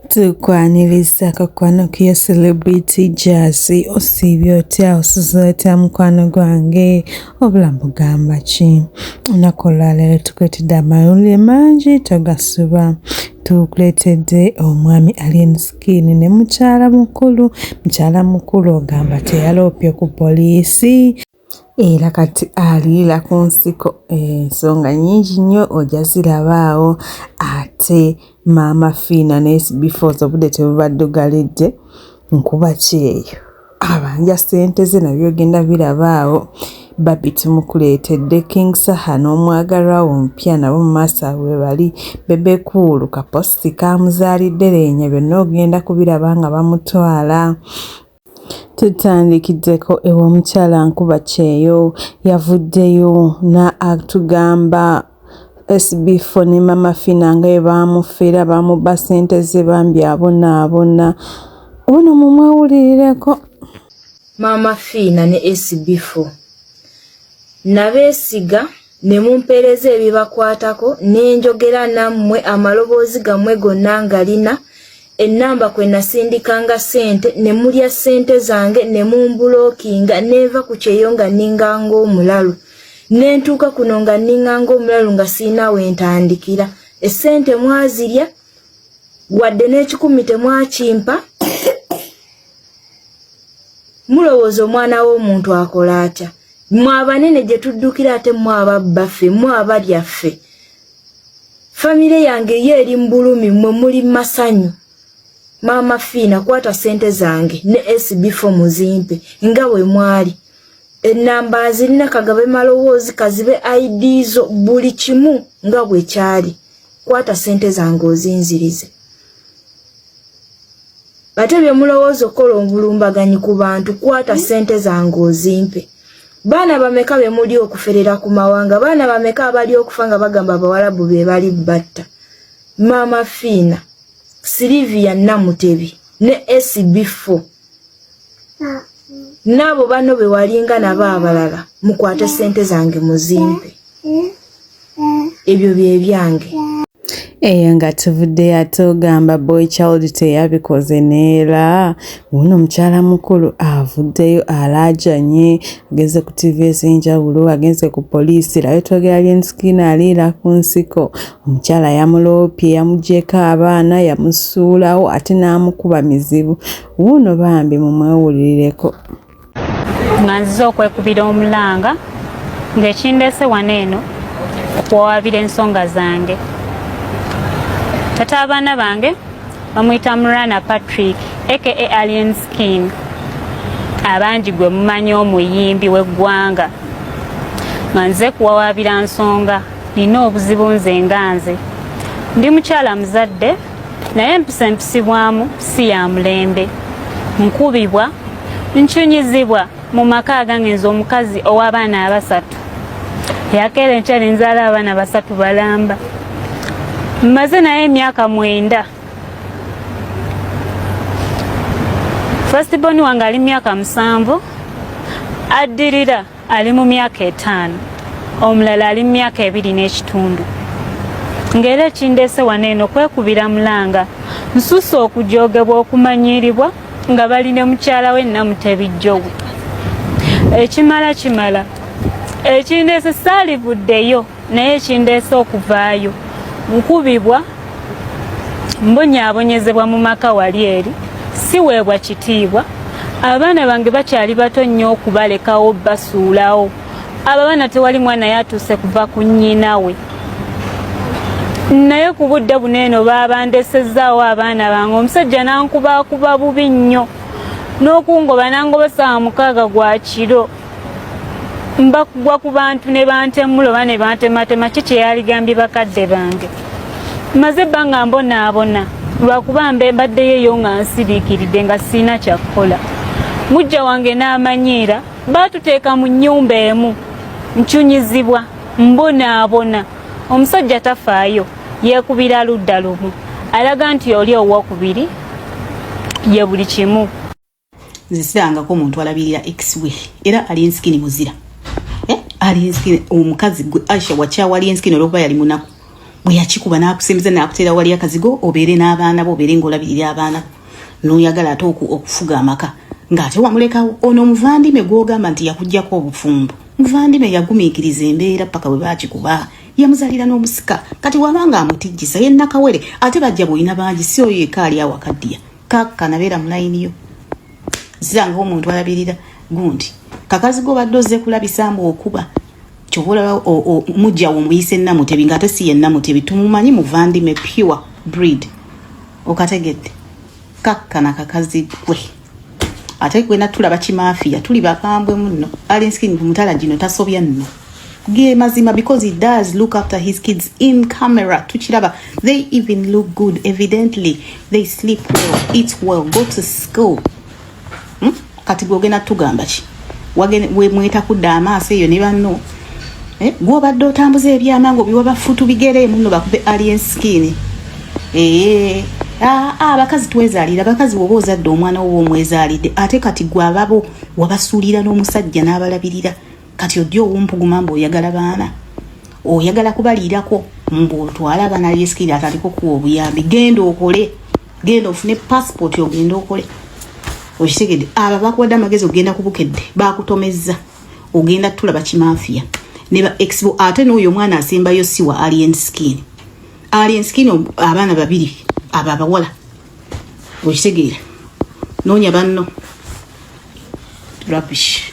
tukwaniriza akakwano kiyo celebrity jasi osiibye otya osuza otya mukwano gwange obulamu bugamba ki olunaku olwaleero tukuletedde amawulire mangi togasuba tukuletedde omwami alien skin ne mukyala mukulu mukyala mukulu ogamba teyaloopye ku poliisi era kati aliira ku nsiko ensonga nyingi nnyo oja zirabaawo ate maama fiina nebifooza obudde tebubaddugalidde nkuba kyeyo abanja ssente ze nabyo ogenda birabaawo babi tumukuleetedde king saha n'omwagalwa wo omupya nabo mu maaso abwe bali bebekuulu kaposti kamuzaalidde leenya byonna ogenda kubiraba nga bamutwala Tutandikiddeko ew'omukyala Nkuba Kyeyo yavuddeyo n'atugamba SB4 ne Mama Fina nga bwe baamufera baamubba ssente ze bambi abonaabona. Ono mumwewulirireko. Maama Fiina ne SB4 nabeesiga. ne mumpeereza ebibakwatako ne njogera nammwe amaloboozi gammwe gonna nga lina ennamba kwe nasindikanga ssente ne mulya ssente zange ne mumbulookinga neeva ku kyeyo nga nninga ng'omulalu ne ntuuka kuno nga nninga ng'omulalu nga sirina we ntandikira essente mwazirya wadde n'ekikumi temwakimpa mulowooza omwana w'omuntu akola atya mwe abanene gye tuddukira ate mwe ababbaffe mwe abalya ffe famire yange yo eri mu bulumi mwe muli masanyu maama fiina kwata sente zange ne sb fo muzimpe nga we mwali ennamba nzirina kagabe malowoozi kazibe id zo buli kimu nga bwe kyali kwata sente zange ozinzirize ate byemulowooza okukola obulumbaganyi ku bantu kwata sente zange ozimpe baana bameka bemuli okuferera ku mawanga baana bameka abali okufa nga bagamba abawalabu bebali batta maama fiina silivia namutebi ne sb4 naabo bano bewalinga nabo abalala mukwate sente zange muzimpe ebyo byebyange eyo nga tuvudde ate ogamba boy child teyabikoze neera wuno omukyala mukulu avuddeyo alaajanye agenze ku tv ez'enjawulo agenze ku poliisi layo twogera lyenskin aliira ku nsiko Omukyala yamuloopye yamugyeko abaana yamusuulawo ate n'amukuba mizibu wuuno bambi mumwewulirireko. Nga nzize okwekubira omulanga ng'ekindeese wano eno okuwawaabira ensonga zange tata abaana bange bamuyita murana patrick aka alien skin abangi gwe mumanyi omuyimbi w'eggwanga nga nze kuwawaabira nsonga Nina obuzibu nze nga nze ndi mukyala muzadde naye empisa empisibwamu si ya mulembe nkubibwa ncunyizibwa mu maka agange nze omukazi ow'abaana abasatu yakeera enkya nenzaala abaana basatu balamba mmaze naye emyaka mwenda fastiboni wange ali myaka musanvu addirira ali mu myaka etaano omulala ali mu myaka ebiri n'ekitundu ng'era ekindeese wano eno kwekubira mulanga nsusa okujoogebwa okumanyiiribwa nga bali ne mukyala we namutebijjowe ekimala kimala ekindeese saalivuddeyo naye ekindeese okuvaayo nkubibwa mbonyaabonyezebwa mu maka wali eri siweebwa kitiibwa abaana bange bakyali bato nnyo okubalekawo basuulawo abo abaana tewali mwana yatuuse kuva ku nnyina we naye ku budde buno eno baabandesezaawo abaana bange omusajja nankubaakuba bubi nnyo n'okungoba nangoba saawa mukaaga gwa kiro mbakugwa ku bantu ne bantemula oba ne bantematema ki kyeyaligambye bakadde bange maze ebbanga mbonaabona lwakuba mbe mbaddeyo eyo nga nsiriikiridde nga sirina kyakukola mujja wange n'amanyiira baatuteeka mu nnyumba emu ncunyizibwa mbonaabona omusajja tafaayo yeekubira ludda lumu alaga nti oli owokubiri ye buli kimu nze sirangako omuntu alabirira ex we era ali ensikini muzira eh, ali ensikini omukazi gwe aisha wakyawali ensikini olwokuba yali munaku bwe yakikuba n'akusembeza n'akuteera wali akazigo obeere n'abaana bo obeere ng'olabirira abaana bo n'oyagala ate okufuga amaka ng'ate wamulekawo ono omuvandime gw'ogamba nti yakugyako obufumbo muvandime yagumiikiriza embeera paka bwe baakikuba yamuzalira n'omusika kati wabanga amutijjisa ye nakawere ate bajja bwoyina bangi si oyo ekaali awakaddiya kaka nabeera mulayini yo ziranga omuntu alabirira gundi kakazi go badde ozze kulabisa mbu okuba kyova olaba mujja wo muyise namutebi ngaate si ye namutebi tumumanyi muvandime pure breed okategedde kakka na kakazi gwe ate gwe natulaba kimafiya tuli bakambwe muno alinskin mutala gino tasobya nno gemazima because he does look after his kids in camera tukiraba they even look good evidently they sleep well eat well go to school hmm? kati gwogenda tugamba ki mweta kudda amaaso eyo ne banno eh? gwobadde otambuza ebyama nga obiwa bafutu bigere muno bakube alien skin ee eh, ah, ah, abakazi twezalira abakazi woba ozadde omwana woba omwezalidde ate kati gwababo wabasuulira n'omusajja n'abalabirira kati ojja owumpuguma mbu oyagala baana oyagala kubaliirako mbu otwale abaana lyesikiri ataliko kuwa obuyambi genda okole genda ofune passport ogende okole okitegedde aba bakuwadde amagezi ogenda kubukedde bakutomezza ogenda tulaba kimafiya neba exbo ate n'oyo omwana asembayo siwa alien skin alien skin abaana babiri abo abawala okitegeera noonya banno rubbish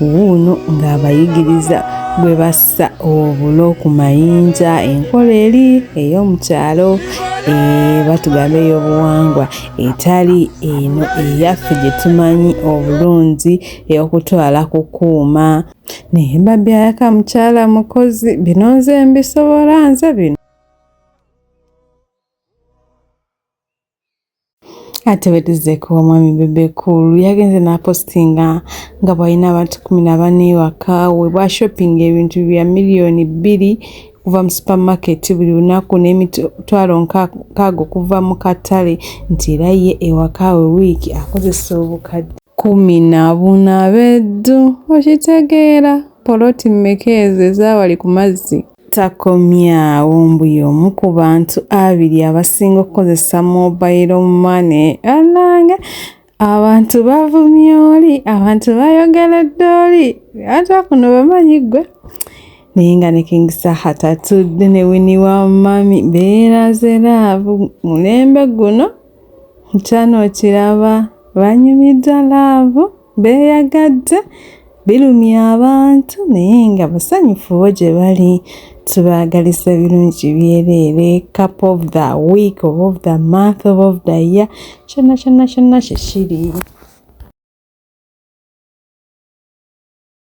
wuuno ng'abayigiriza bwe bassa obulo ku mayinja enkola eri ey'omu kyalo eh, batugamba ey'obuwangwa etali eno eyaffe gye tumanyi obulungi ey'okutwala ku kuuma naye mbabyayaka mukyala mukozi bino nze mbisobola nze bino ate wetizeko omwami bebe cool yagenze napostinga nga bwalina abantu kumi nabana ewaka we bwashoppinga ebintu bya miliyoni bbiri okuva mu supermarket buli lunaku n'emitwalo nkaaga okuva mu katale nti era ye ewaka we wiiki akozesa obukadde kumi na buna beddu okitegeera poloti mmeka ezo ezaawali ku mazzi Takomye awo mbu y'omu ku bantu abiri abasinga okukozesa mobayiro mane anange abantu bavumye oli abantu bayogeredde oli ata kuno bamanyi ggwe naye nga ne king saha tatudde ne wini wa mami beeraze laavu mulembe guno nkyano okiraba banyumidwa laavu beeyagadde birumya abantu naye nga basanyufu bo gye bali tubaagaliza birungi byereere cup of the week of of the month of of the year kyonna kyonna kyonna kyekiri